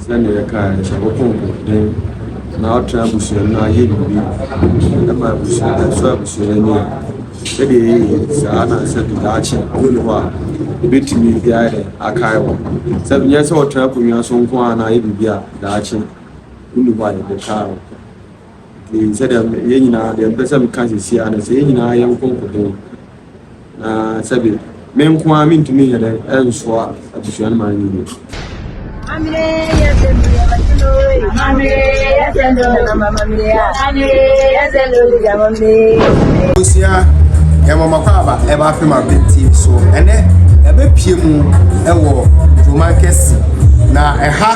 Sɛnea yɛkae no, sɛ wokɔ mpɔtam na wotena abusua no ayɛ biribi ma abusua no ɛsɔ abusua no ani a, sɛdeɛ ɛyɛ yie saa na sɛ daakye wonni hɔ a, ɛbɛtumi ayɛ dɛ akae wɔ. Sɛ nyɛ sɛ wotena akonnwa so nko a na ayɛ biribi a daakye wonni hɔ a yɛde kae wɔ. Nti sɛdeɛ yɛn nyinaa deɛ mpɛ sɛ meka sisi ara no sɛ yɛn nyinaa yɛn nko nkoden na sɛbi me nko ara mentumi nyɛ dɛ ɛnsoa abusua no ma no yie. Mamire yɛ sɛ mi yɛ bɛtɛ no wei. Mamire yɛ sɛ no na ma mamire ya. Mamire yɛ sɛ no bi ya mamire. Abusua yɛ mɔmɔ kɔ aba ɛba afei ma penti so ɛnɛ ɛbɛpie mu ɛwɔ Roman kɛse na ɛha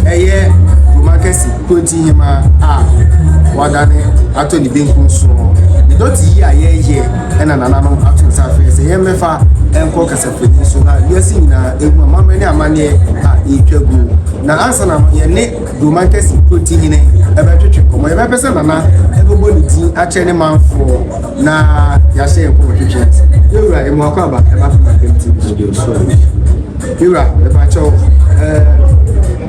ɛyɛ Roman kɛse. Kwati Hemaa a wadane atɔ ne benkum so no, ne dɔte yi a yɛyɛ na nananom ato nsa afrɛ sɛ yɛmmɛfa nkɔ kasafoni so na wiase nyinaa ehu amammerɛ ne amanneɛ a ɛretwa gu. Na ansa na yɛne Buroman Kɛse Kwati Hene ɛbɛtwetwe nkɔmmɔ, yɛbɛpɛ sɛ Nana ɛbɛbɔ ne din akyerɛ ne manfoɔ na yɛahyɛ yɛn nkɔmmɔtwetwe ase. Yɛn wura, yɛma wakɔ aba ɛba fam Ampem TV so bio nso. Yɛn wura, yɛpa kyɛw, ɛɛ.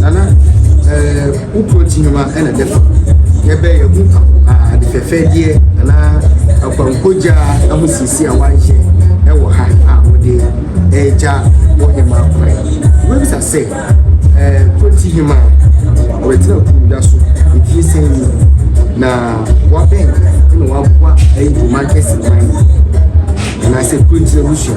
Nana ɛɛ wo protein nwoma ɛna ɛdɛ fa yɛbɛ yɛ ho ade fɛfɛɛdeɛ anaa akwankogya ɛho siesie a wayɛ ɛwɔ ha a wɔde ɛregya wɔ hema kwan wobɛbisa sɛ ɛɛ protein hema wɔbɛtena kumda so ɛfie sɛ ni na wabɛn ɛna waboa ɛyɛ dwuma kɛse man anaasɛ protein abusua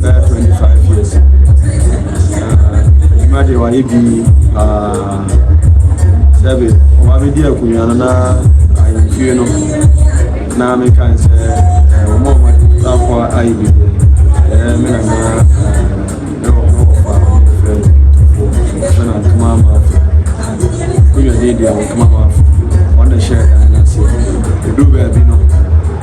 bɛyɛ twenty five years ɛdwuma deɛ wayɛ bi paa sɛbi wabɛdi akonnwa no na ayɛmfie no na meka n sɛ wɔn a wɔatakɔ ayɛ bi ɛyɛ me nana ɛwɔ hɔ fa fɛ fɛ na ntoma ama afo akonnwa deɛ deɛ wɔntoma ama afo wɔn na ɛhyɛ ɛdan no ase ɛduru baabi no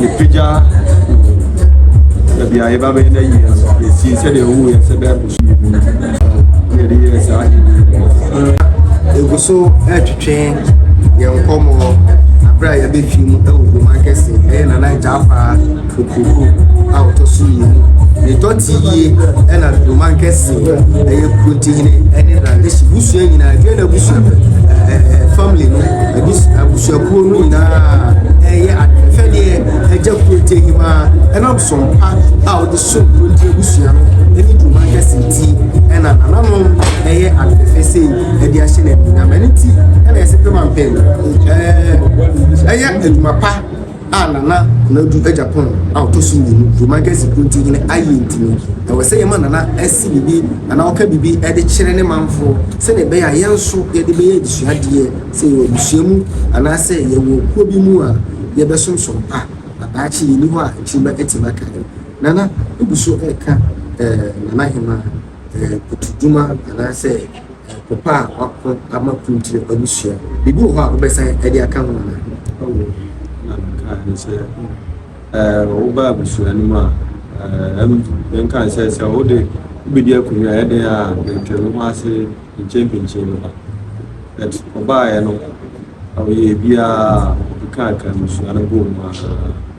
Yɛpagya baabi a yɛba bɛyɛ no ayie no yɛsii sɛdeɛ ɛwɔ yɛ sɛ bɛyɛ boso yɛ mu na yɛde yɛɛ saa ɛgu so ɛtwetwe yɛn nkɔmmɔ berɛ a yɛbɛfi mu ɛwɔ boma kɛse ɛyɛ nana gyafa okuku a ɔtɔ so mmienu ne dɔte yie ɛna boma kɛse ɛyɛ kurontihene ɛne na ɛhyɛ busua nyinaa ɛdua na busua ɛɛ family no Abus abusuakuo no nyinaa ɛreyɛ ade sɛdeɛ ɛgya kurotie hima ɛnam som pa a wɔde som kurotie abusua no ɛne dwuma kɛse ti ɛna nananom ɛyɛ adefɛfɛ sei ɛde ahyɛ no anuonyam ɛne ti ɛna ɛsɛ pɛ ma mpɛn ɛɛ ɛyɛ adwuma pa a Nana Konadu Agyapong a ɔtɔ so mmienu, Dwuma Gasi Kunti hene, ayɛ nti no, ɛwɔ sɛ yɛma Nana si biribi anaa ɔka biribi de kyerɛ ne manfoɔ sɛdeɛ ɛbɛyɛ a yɛn nso yɛde bɛyɛ adesuadeɛ sɛ yɛwɔ abusua mu anaasɛ yɛwɔ kuo bi mu a yɛbɛsom som pa na daakye yɛnni hɔ a akyiri mma atim aka yɛn. Nana gu so reka Nana Hemaa Kutu Dwuma anaasɛ. Ɔko pa a wɔako ama kuw nti na ɔde sua. Biribi wɔ hɔ a wobɛsan de aka ho anaa? Awo, na mekaa ne sɛ, eh, woba abusua no mu a, eh, ɛm, yɛnka ne sɛ, sɛ wode wobɛdi akonnwa a, ɛdɛn a bɛntwe wo ho ase nkyenpinkyen no ba. But ɔbaeɛ no, ɔyɛɛ biara, ɔkekaaka abusua no bɔɔ mu ara.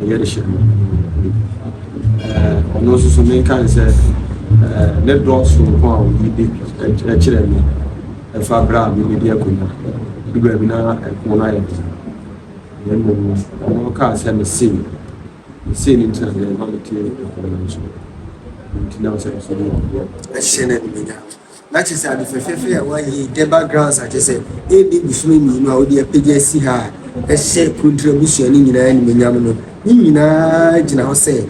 Yɛ de hyɛ no ɔno nso so menka ne sɛ ne dɔ soronko a ɔyi de kyerɛ me ɛfa berɛ a mebɛdi akonnwa du baabi na ɛko no ayɛ den na mmom ɔno kaa sɛ mesei mesei no nti na deɛ ɛma mete ɛko no nso nti na sɛ ɛsɛ ne ɔdeɛ ɛhyɛ no animuonyam Na kyerɛ sɛ ade fɛfɛɛfɛ yi a wɔayɛ yi de ba grounds a kyerɛ sɛ ɛredi bosome mmienu a wode apagya asi ha a ɛhyɛ Kronti abusua no nyinaa animuonyam no, ne nyinaa gyina hɔ sɛ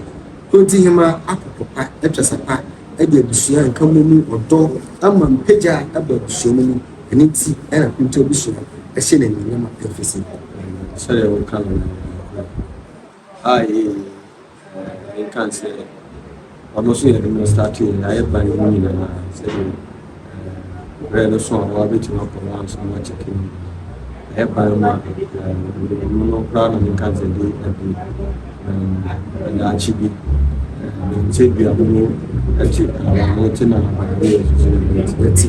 Kronti Hema akokɔ pa atwa sa pa de abusua a nkammɔ mu ɔdɔ ama mpagya aba abusua no mu, ɛno nti na Kronti abusua hyɛ no animuonyam a ɛmfiri sɛ. Sɛdeɛ woka no no, ɛyɛ nokorɛ. Aye. Yɛka sɛ ɔno nso yɛde no startee na ayɛ ban mu nyinaa sɛdeɛ berɛ no so a wabɛtumi akɔ no ansa no akyɛke no nyinaa ayɛ ban mu a mmerɛmu no koraa na meka sɛ de abu daakye bi sɛ dua mu no te awano te na abadeɛ ɛsusu no bɛti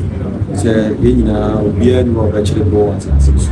sɛ yɛn nyinaa obiara ni wɔ bɛkyere bɔ asase so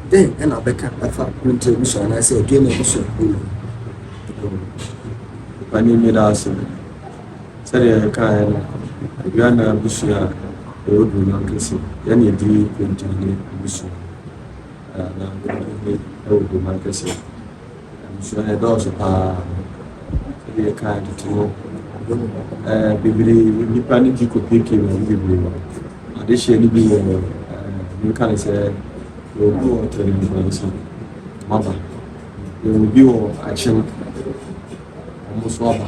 Dɛn na wɔbɛka afa Winter abusua anaasɛ Aduane abusuakuw no ho? Nnipa ani nnye daase no. Sɛnea yɛkae no, Aduane abusua a ɛwɔ Dunnwan kɛse yɛ nea edi nkonim ne abusua a na ɛwɔ Dunnwan kɛse. Abusua no dɔɔso paa. Sɛdeɛ yɛkaa tete no, eh, bebree nnipa no gye kopiepie mu ade bebree wɔ. Adehyeɛ no bi wɔ nka ne sɛ obi wɔ tɛnɛmfransa maba, obi wɔ akyem wɔn nso aba.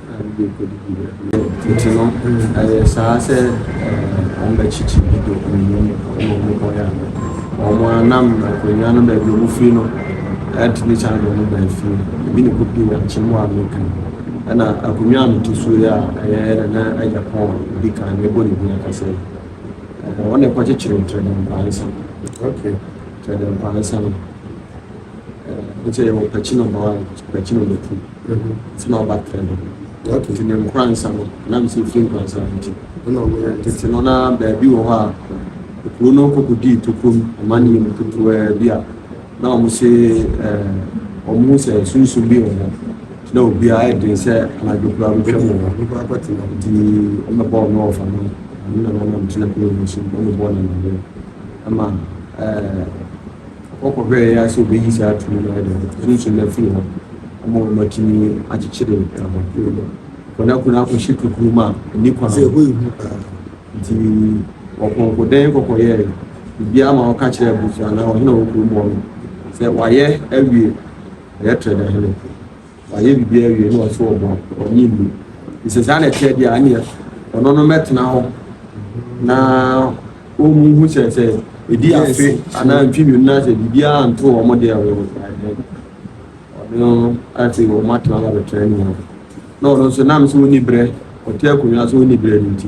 Ntsi no, ayɛ saa sɛ hɔn bɛkyekye bi do nnuho mu ma ɔmo bɔn a, hɔn a nna mbrɛkonwa no beebi ɔmo fir no red ne china ɔmo baa fie no, emi na kopii wɔ akyen mu a meka yi. Nna akonwa a meto so yi a ɔyɛ Nana Agyapong a odzi kan no, mebɔ no dzin akasa yi, ɔno na ɔkɔkyekyeer Ntrɛdɛmpansa, okay, Ntrɛdɛmpansa no. nkyɛ yɛwɔ mpɛkye no mma wɔ mpɛkye no mma kum nti na ɔba trɛ no nti ne nkoransa no na mesɛ ɛfiri nkoransa no nti tete no na baabi wɔ hɔ a kuro no kɔkɔ dii tokom ɔma ne yɛmu ketewa bi a na ɔmo se ɔmo hu sɛ sunsum bi wɔ hɔ na obiara ayɛ den sɛ anadwo koraa bɛtwa mu wɔ hɔ nti ɔmo bɔɔ no ɔfa no ɔmo na nanam gyina kuro no so ɔmo bɔɔ no ɔmo ama ɛɛ Wɔkɔhwɛɛ yɛ ara sɛ wobeyi saa tumi no ayɛ dɛn sunsum no afi hɔ ama wɔatumi akyekyere nkakrankakra bi kɔ na kunu akɔhyɛ kukurum a enni kwan. Sɛ ɛhɔ yɛ hu paa nti, wɔpɔnkɔ dɛn kɔkɔ yɛe. Obiara ma wɔka kyerɛɛ abusua anaa ɔhene a ɔwɔ kurom hɔ no sɛ wɔayɛ awie, wɔyɛ Tredahene. Wayɛ biribiara awie na ɔse ɔbɔ a, ɔnnye nni. Nti sɛ saa na ɛteɛ deɛ a, ɛneɛ ɔno no mmɛtena hɔ na ɔnhu sɛ sɛ ɛdi afe anaa mfe mmienu na sɛ biribiara nto wɔn deɛ wɔ ɔno ate wɔn atena hɔ abɛtra nyinaa. Na ɔno nso nam sɛ ɔnni berɛ, ɔte akonnwa so ɔnni berɛ no nti.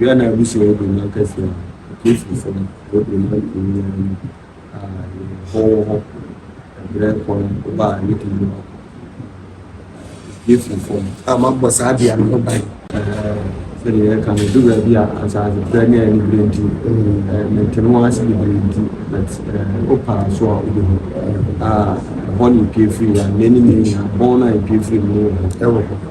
Wia na abusua yi bɛnya kɛse a Kristo sɛ ɔbɛbrɛ mu akum nyinaa mu a yɛn ho wɔ hɔ ɛberɛ kɔ no ba a yɛdi mu a Kristo fam. A mabɔ saa bea no ho ban. Sɛdeɛ yɛka no du baabi a asase frɛ ne ɛne berɛ nti mente no ase bebree nti but wopaa so a wobɛhu a ɛhɔ ne ɛpue firi a nnɛ ne nyinaa bɔn no a ɛpue firi mu wɔ hɔ.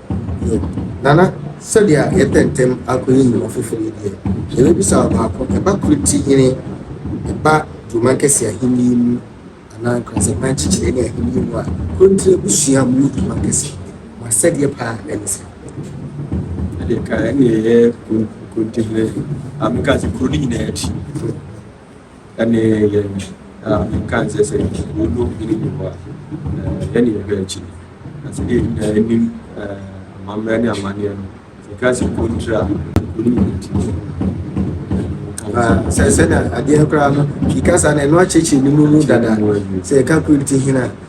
Yɛ. Nana, sɛdeɛ yɛpɛ ntɛm akɔyi mmoa foforɔ yi deɛ, yɛbɛbisa wo baako, ɛba kuro ti hene, ɛba Duroman Kɛseɛ ahennie mu, anaa nkransɛmma nkyekyeree ne ahennie mu a, Kontire abusua mu ne Duroman Kɛseɛ, mo asɛdeɛ pa ara ne sɛ. Ɛdeɛ ka ɛne yɛyɛ Kontire hene, a meka sɛ kuro no nyinaa akyi. Ɛne yɛn a nka nsɛ sɛ wɔno hene bi hɔ a, yɛne yɛhwɛ akyi. Na sɛ deɛ nyinaa anim amammerɛ ne amanneɛ no, sɛ ka sɛ kontra a, ɛkɔni yɛn akyi. sɛ sɛda adeɛ koraa no kika saa na ɛno akyekyere ne mu mu dada sɛ ɛka kuro no ti hene a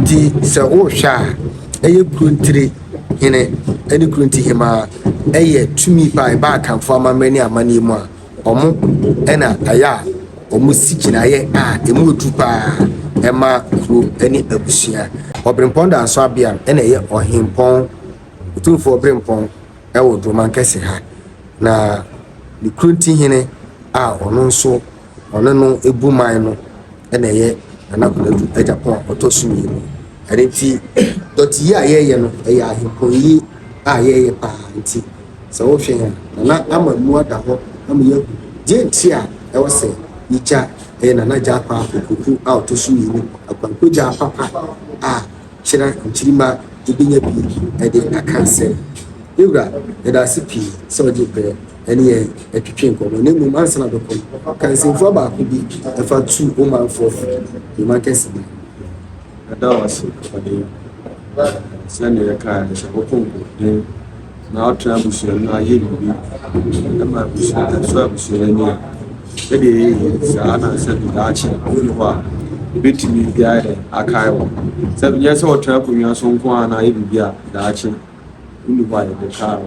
Nti sɛ wohwɛ a, ɛyɛ Kurontire hene ne Kuronti hemaa, ɛyɛ tumi pa a ɛba Akanfoɔ amammerɛ ne amanneɛ mu a, wɔn na ayɛ a wɔsi gyinaeɛ a ɛmu yɛ duru pa ara ma kuro ne abusua. Ɔberempɔn Danso Abeam na ɛyɛ Ɔhempɔn, Otumfoɔ Ɔberempɔn wɔ Duromankɛse ha, na ne Kurontihene a ɔno nso. ɔne no bu man no na ɛyɛ Nana Konadu Agyapong a ɔtɔ so mmienu. Ɛno nti dɔte yi a yɛyɛ no ɛyɛ ahempɔn yi a yɛyɛ paa nti sɛ wohwɛ yɛn a Nana ama mu ada hɔ ama yɛahu deɛ nti a ɛwɔ sɛ yɛgya ɛyɛ Nana Gyapa Opoku a ɔtɔ so mmienu Akwanko Gyapa pa a kyerɛ nkyirima ɛbɛnya bi ɛde aka sɛ. Me wura, yɛda ase pii sɛ wode brɛ. ne yɛn atwitwe nkɔmmɔ na mmom ansa na bɛkɔ no ka nsɛmfua baako bi ɛfa tu wo manfoɔ fo dwuma kɛse bi ɛda wo ase ɔde sɛnea yɛkaa no sɛ wokɔ nkɔden na wotena abusua no ayɛ biribi ɛma abusua ɛso abusua ani a ɛdeɛ yɛyɛ saa na sɛ daakye wone hɔ a ɛbɛtumi biara dɛ akae wɔ sɛ nyɛ sɛ wɔtena akonnwa so nko a na ayɛ biribi a daakye wonni hɔ a yɛde kaa wɔ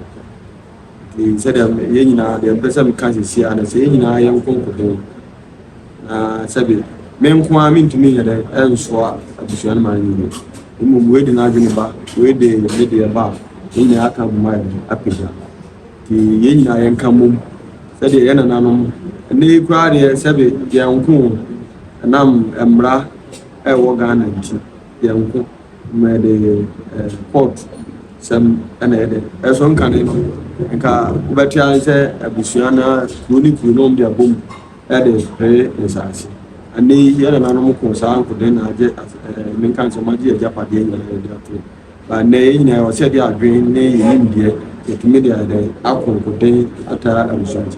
Nti sɛdeɛ yɛn nyinaa deɛ mpɛ sɛ meka sisi ara no sɛ yɛn nyinaa yɛn nko nko dɛn na sɛbi me nko ara mentumi nyɛ dɛn ɛnsoa adesua no ma no nyini mmom wei de n'adwene ba wei de ne deɛ ba a yɛn nyinaa aka boma yɛn ho apagya nti yɛn nyinaa yɛn ka mmom sɛdeɛ yɛn nananom ɛnɛ yi koraa deɛ sɛbi yɛn nko ɛnam mmara ɛwɔ Ghana nti Yɛnko ma yɛde eh, court sɛm ɛna yɛ dɛ ɛso nkane no nka wobɛte ase sɛ abusua na kuro ne kuro nom de abom ɛde pere nsaase ɛnɛ yi yɛ nananom ko saa nkoden na agye eh, menka nsɛm agye agyapadeɛ nyinaa yɛde ato ba nnɛ yɛ nyinaa ɛwɔ sɛ yɛde adwene ne yɛnimdeɛ yɛtumi de ayɛ dɛ ako nkoden ataa abusua nti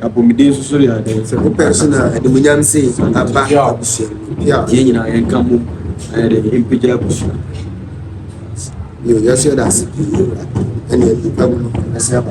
Apɔmuden nso so yɛ adeɛ sɛ wopɛ nso na animuonyam sɛ aba abusua mu yɛn nyinaa yɛnka mu ayɛ dɛ yɛmpagya abusua yɛsɛ yɛda ase pii ɛne nnipa mu no ɛsɛ aba